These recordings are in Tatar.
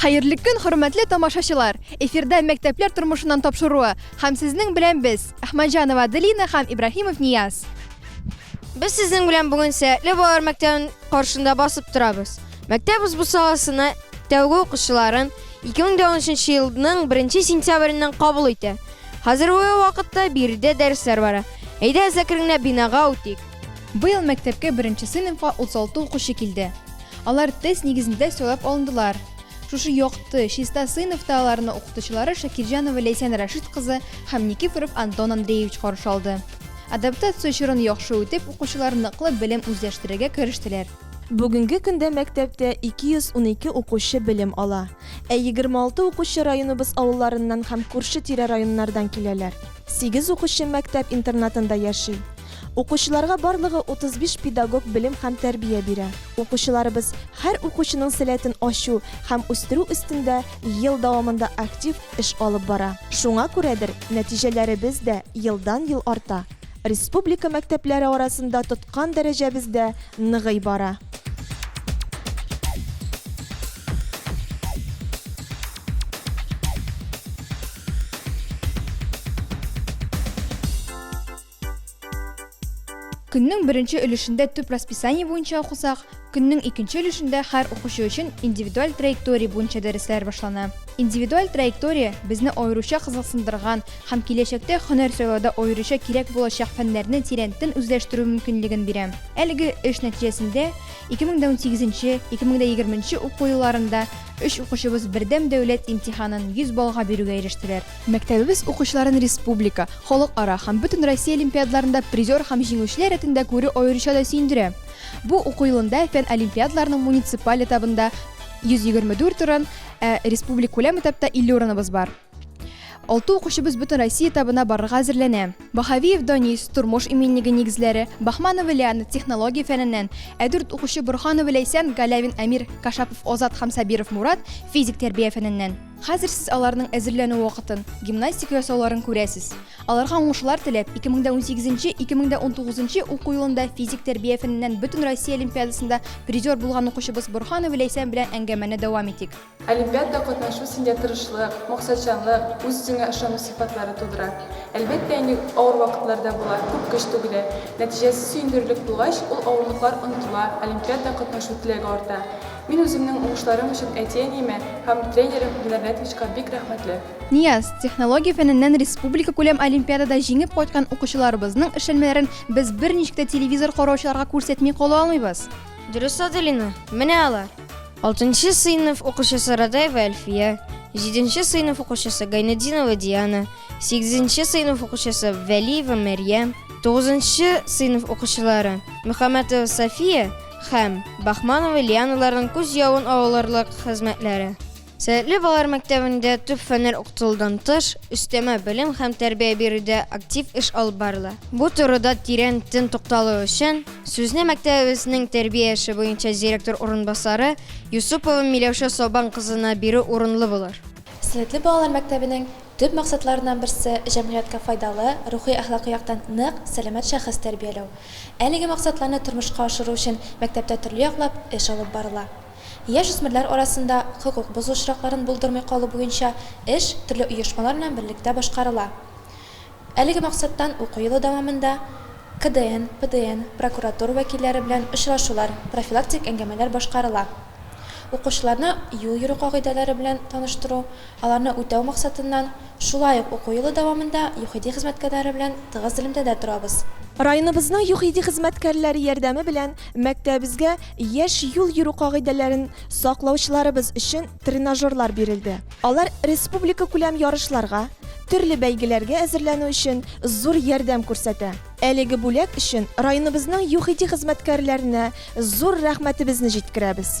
Хәерле көн, хөрмәтле тамашачылар! Эфирда мәктәпләр тормышыннан тапшыруы һәм сезнең белән без, Әхмәтҗанова Аделина һәм Ибраһимов Нияз. Без сезнең белән бүген Сәятле балалар мәктәбенең каршында басып торабыз. Мәктәп узбу саласына тәүге укучыларын 2013 елның 1 сентябреннән кабул итә. Хәзерге вакытта биредә дәресләр бара. Әйдәгез әкренләп бинага үтик. Быел мәктәпкә беренче сыйныфка 36 укучы килде. Алар тест нигезендә сайлап алындылар. Шушы якты, чиста сыйныфта аларны укытучылары Шакирҗанова Ләйсән Рәшит кызы һәм Никифоров Антон Андреевич каршы алды. Адаптация чорын яхшы үтеп, укучылар ныклы белем үзләштерергә керештеләр. Бүгенге көндә мәктәптә 212 укучы белем ала. Ә 26 укучы районыбыз авылларыннан һәм күрше-тирә районнардан киләләр. Сигез укучы мәктәп интернатында яши. Укучыларга барлыгы 35 педагог белем һәм тәрбия бирә. Укучыларыбыз һәр укучының сәләтен ачу һәм үстерү өстендә ел дәвамында актив эш алып бара. Шуңа күрәдер, нәтиҗәләребез дә елдан-ел арта, республика мәктәпләре арасында тоткан дәрәҗәбез дә ныгый бара. Көннең беренче өлешендә төп расписание буенча укысак, көннең икенче өлешендә һәр укучы өчен индивидуаль траектория буенча дәресләр башлана. Индивидуаль траектория безне аеруча кызыксындырган һәм киләчәктә һөнәр сайлауда аеруча кирәк булачак фәннәрне тирәнтен үзләштерү мөмкинлеген бирә. Әлеге эш нәтиҗәсендә 2018-2020 уку елларында өч укучыбыз Бердәм дәүләт имтиханын 100 баллга бирүгә ирештеләр. Мәктәбебез укучыларын республика, халыкара һәм бөтенроссия олимпиадаларында призер һәм җиңүчеләр рәтендә күрү аеруча да сөендерә. Бу уку елында фән олимпиадаларының муниципаль этабында 124 урын, ә республикүләм этапта 50 урыныбыз бар. Алты укучыбыз бөтенроссия этабына барырга әзерләнә. Баһавиев Данис, тормыш иминлеге нигезләре, Бахманова Лиана, технология фәненнән, ә дүрт укучы Борһанова Ләйсән, Галәвин Әмир, Кашапов Азат һәм Сабиров Мурат, физик тәрбия фәненнән. Хәзер сез аларның әзерләнү вакытын, гимнастика ясауларын күрәсез. Аларга уңышлар теләп, 2018-2019 нчы уку елында физик тәрбия фәненнән Бөтенроссия олимпиадасында призер булган укучыбыз Борһанова Ләйсән белән әңгәмәне дәвам итик. Олимпиадада катнашу синдә тырышлык, максатчанлык, үз-үзеңә ышану сыйфатлары тудыра. Әлбәттә инде, авыр вакытлар да була, күп көч түгелә. Нәтиҗәсе сөендерерлек булгач, ул авырлыклар онытыла, олимпиадада катнашу теләге арта. Мин үземнең уңышларым өчен әти-әниемә һәм тренерым Динар Нәтвичка бик рәхмәтле. Нияз, технология фәненнән республикакүләм олимпиадада җиңеп кайткан укучыларыбызның эшләнмәләрен без берничек тә телевизор караучыларга күрсәтми кала алмыйбыз. Дөрес Аделина, менә алар. Алтынчы сыйныф укучысы Радаева Әлфия, җиденче сыйныф укучысы Гайнетдинова Диана, сигезенче сыйныф укучысы Вәлиева Мәрьям, тугызынчы сыйныф укучылары Мөхәммәтова Сафия, Һәм, Бахмановы Лианаларның күз явын алырлык хезмәтләре. Сәләтле балалар мәктәбендә төп фәннәр укытылудан тыш, өстәмә белем һәм тәрбия бирүдә актив эш алып барыла. Бу турыда тирән тын тукталу өчен, сүзне мәктәбебезнең тәрбия эше буенча директор урынбасары Юсупова Миләүшә Сабан кызына бирү урынлы булыр. Сәләтле балалар мәктәбенең Төп максатларыннан берсе, җәмгыятькә файдалы, рухи-әхлакый яктан нык, сәламәт шәхес тәрбияләү. Әлеге максатларны тормышка ашыру өчен мәктәптә төрле яклап эш алып барыла. Яшүсмерләр арасында хокук бозу очракларын булдырмый калу буенча эш төрле оешмалар белән берлектә башкарыла. Әлеге максаттан уку елы дәвамында КДН, ПДН, прокуратура вәкилләре белән очрашулар, профилактик әңгәмәләр башкарыла. Укучыларны юл йөрү кагыйдәләре белән таныштыру, аларны үтәү максатыннан, шулай ук уку елы дәвамында ЮХИДИ хезмәткәрләре белән тыгыз элемтәдә торабыз. Районыбызның ЮХИДИ хезмәткәрләре ярдәме белән мәктәбебезгә яшь юл йөрү кагыйдәләрен саклаучыларыбыз өчен тренажерлар бирелде. Алар республикакүләм ярышларга, төрле бәйгеләргә әзерләнү өчен зур ярдәм күрсәтә. Әлеге бүләк өчен районыбызның ЮХИДИ хезмәткәрләренә зур рәхмәтебезне җиткерәбез.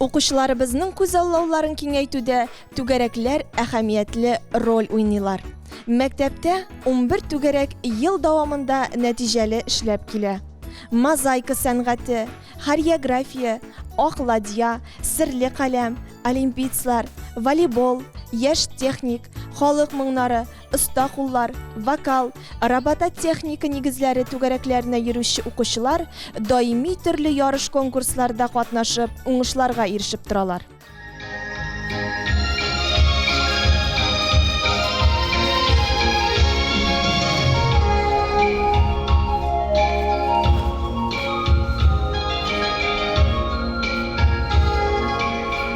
Укучыларыбызның күзаллауларын киңәйтүдә түгәрәкләр әһәмиятле роль уйныйлар. Мәктәптә унбер түгәрәк ел дәвамында нәтиҗәле эшләп килә. Мозаика сәнгате, хореография, ак ладья, серле каләм, олимпийцлар, волейбол, яшь техник, халык моңнары, оста куллар, вокал, робототехника нигезләре түгәрәкләренә йөрүче укучылар даими төрле ярыш-конкурсларда катнашып, уңышларга ирешеп торалар.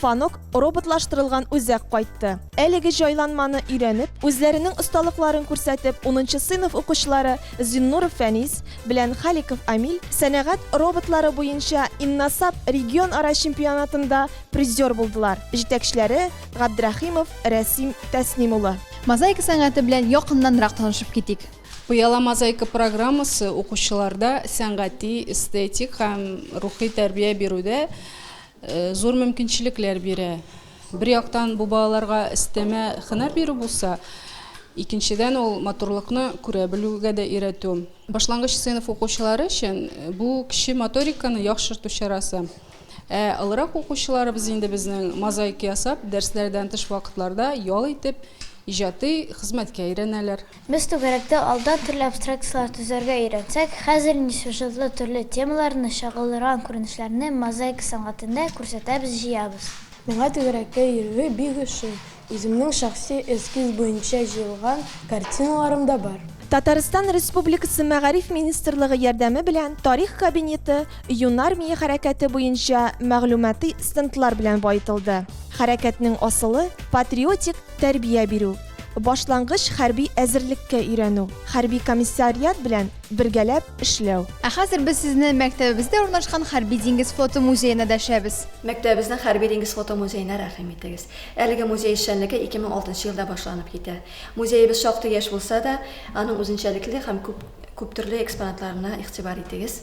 Фанок, роботлаштырылган үзәк кайтты. Әлеге җайланманы өйрәнеп, үзләренең осталыкларын күрсәтеп, унынчы сыйныф укучылары Зиннуров Фәнис белән Халиков Амиль сәнәгать роботлары буенча Инносаб регионара чемпионатында призер булдылар, җитәкчеләре Габдрәхимов Рәсим Тәсним улы. Мозаика сәнгате белән якыннанрак танышып китик. Пыяла мозаика программасы укучыларда сәнгати, эстетик һәм рухи тәрбия бирүдә зур мөмкинчелекләр бирә. Бер яктан бу балаларга өстәмә хөнәр бирү булса, икенчедән ул матурлыкны күрә белүгә дә өйрәтү. Башлангыч сыйныф укучылары өчен бу кече моториканы яхшырту чарасы. Ә олырак укучыларыбыз инде безнең мозаика ясап, дәресләрдән тыш вакытларда ял итеп, иҗатый хезмәткә өйрәнәләр. Без түгәрәктә алдан төрле абстракцияләр төзәргә өйрәнсәк, хәзер инде сюжетлы төрле темаларны, чагылдырган күренешләрне мозаика сәнгатендә күрсәтәбез, җыябыз. Миңа түгәрәккә йөрүе бик ошый, үземнең шәхси эскиз буенча җыелган картиналарым да бар. Татарстан Республикасы Мәгариф министрлыгы ярдәме белән Тарих кабинеты Юнармия хәрәкәте буенча мәгълүмати стендлар белән баетылды. Хәрәкәтнең асылы, патриотик тәрбия бирү. Башлангыч хәрби әзерлеккә өйрәнү, хәрби комиссариат белән бергәләп эшләү. Ә хәзер без сезне мәктәбебездә урнашкан Хәрби диңгез флоты музеена дәшәбез. Мәктәбебезнең Хәрби диңгез флоты музеена рәхим итегез. Әлеге музей эшчәнлеге 2006 елда башланып китә. Музеебез шактый яшь булса да, аның үзенчәлекле һәм күп, күптөрле экспонатларына игътибар итегез.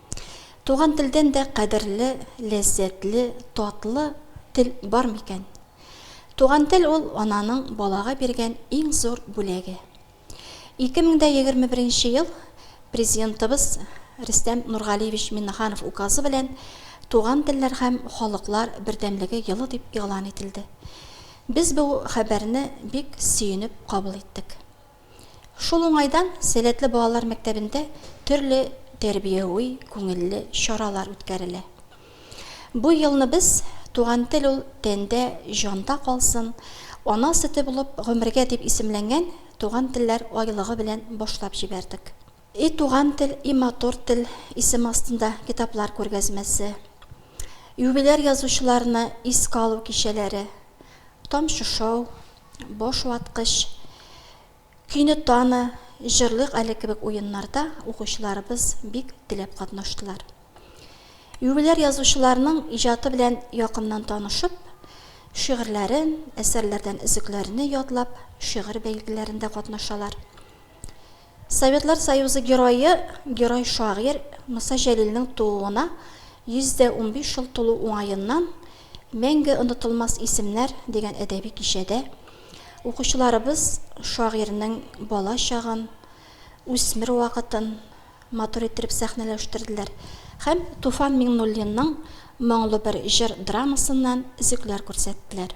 Туган телдән дә кадерле, ләззәтле, татлы тел бар микән? Туган тел ул ананың балага биргән иң зур бүләге. 2021 нче ел Президентыбыз Рөстәм Нургалиевич Миннеханов Указы белән Туган телләр һәм халыклар бердәмлеге елы дип игълан ителде. Без бу хәбәрне бик сөенеп кабул иттек. Шул уңайдан Сәләтле балалар мәктәбендә төрле тәрбияви, күңелле чаралар үткәрелә. Бу елны без Туган тел ул тәндә, җанда калсын, ана сөте булып гомергә дип исемләнгән Туган телләр айлыгы белән башлап җибәрдек. И туган тел, и матур тел исеме астында китаплар күргәзмәсе, юбиляр язучыларны искә алу кичәләре, тамчышоу, Баш ваткыч, Көйне таны, җырлыйк әле кебек уеннарда укучыларыбыз бик теләп катнаштылар. Юбиляр язучыларның иҗаты белән якыннан танышып, шигырьләрен, әсәрләрдән өзекләрне ятлап, шигырь бәйгеләрендә катнашалар. Советлар Союзы Герое, герой-шагыйрь Муса Җәлилнең тууына 115 ел тулу уңаеннан Мәңге онытылмас исемнәр дигән әдәби кичәдә укучыларыбыз шагыйрьнең бала чагын, үсмер вакытын матур иттереп сәхнәләштерделәр һәм Туфан Миңнуллинның Моңлы бер җыр драмасыннан өзекләр күрсәттеләр.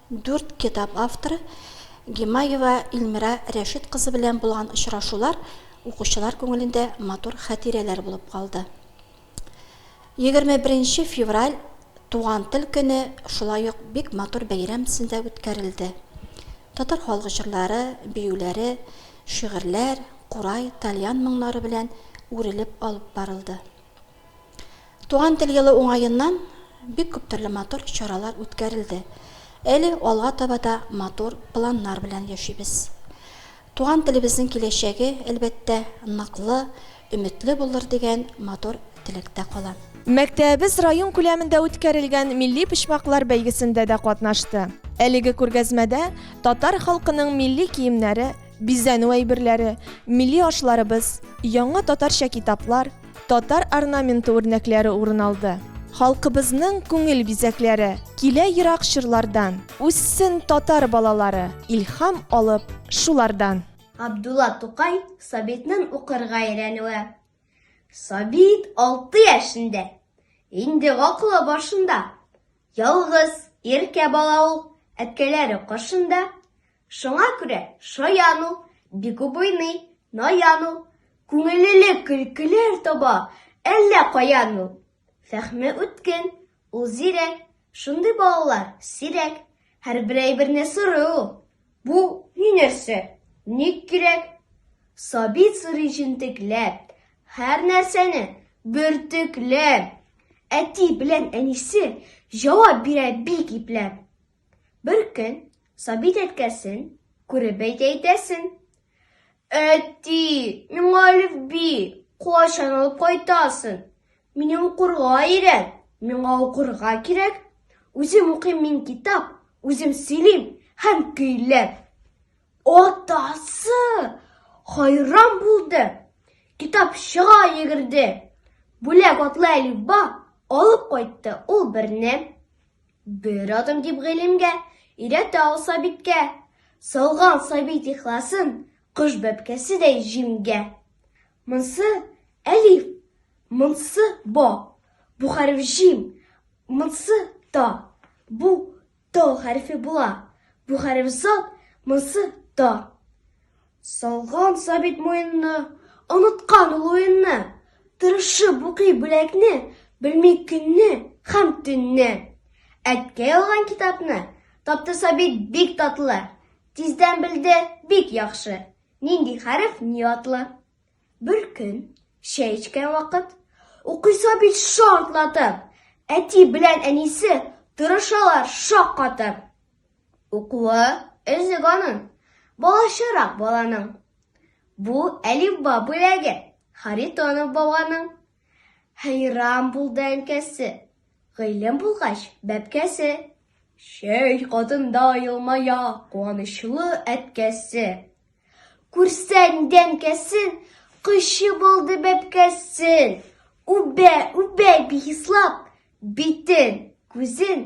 Дүрт китап авторы Гимаева Илмира Рәшит кызы белән булган очрашулар укучылар күңелендә матур хәтирәләр булып калды. Егерме беренче февраль, Туган тел көне шулай ук бик матур бәйрәм төсендә үткәрелде. Татар халык җырлары, биюләре, шигырьләр, курай, тальян моңнары белән үрелеп алып барылды. Туган тел елы уңаеннан бик күп төрле матур чаралар үткәрелде. Әле алга таба да матур планнар белән яшибез. Туган телебезнең киләчәге, әлбәттә, ныклы, өметле булыр дигән матур теләктә калам. Мәктәбебез район күләмендә үткәрелгән милли почмаклар бәйгесендә дә катнашты. Әлеге күргәзмәдә татар халкының милли киемнәре, бизәнү әйберләре, милли ашларыбыз, яңа татарча китаплар, татар орнаменты үрнәкләре урын алды. Халкыбызның күңел бизәкләре килә ерак чорлардан, үссен татар балалары, илһам алып шулардан! Габдулла Тукай Сабитның укырга өйрәнүе. Сабит алты яшендә, инде гакылы башында. Ялгыз, иркә бала ул, әткәләре каршында. Шуңа күрә шаян ул, бик уйный, наян ул, күңелле көлкеләр таба әллә каян ул. Фәһме үткен, ул зирәк, шундый балалар сирәк, һәрбер әйберне сорый ул. Бу ни нәрсә, ник кирәк? Сабит сорый җентекләп, һәр нәрсәне бөртекләп. Әти белән әнисе җавап бирә бик ипләп. Бер көн Сабит әткәсен күреп әйтә әйтәсен. Әти, миңа әлифби кайчан алып кайтасың? Мине укырга өйрәт, миңа укырга кирәк. Үзем укыйм мин китап, үзем сөйлим һәм көйләп. Атасы хайран булды. Китапчыга йөгерде. Бүләк атлы әлифба алып кайтты ул берне. Бер адым дип гыйлемгә, Өйрәтә ул Сабиткә. Салган Сабит ихласын, Кош бәбкәседәй җимгә. Монсы, әлиф, монсы, ба, Бу хәреф җим, монсы, та, Бу, то хәрефе була, Бу хәреф зат, монсы, та. Салган сабит муенны, оныткан ул уенны, Тырышып укый бүләкне, белми көнне һәм төнне. Әткәй алган китапны тапты сабит бик татлы, Тиздән белде бик яхшы, нинди хәреф ни атлы. Бер көн, чәй эчкән вакыт, укый сабит шартлатып, Әти белән әнисе тырышалар шаккатып. Укуы өзек аның, балачарак баланың. Бу әлифба бүләге Харитонов бабаның. Хәйран булды әнкәсе, гыйлем булгач бәбкәсе. Чәй катында елмая куанычлы әткәсе. Күрсәң дә әнкәсен, кочып алды бәбкәсен. Үбә, үбә бихислап, битен, күзен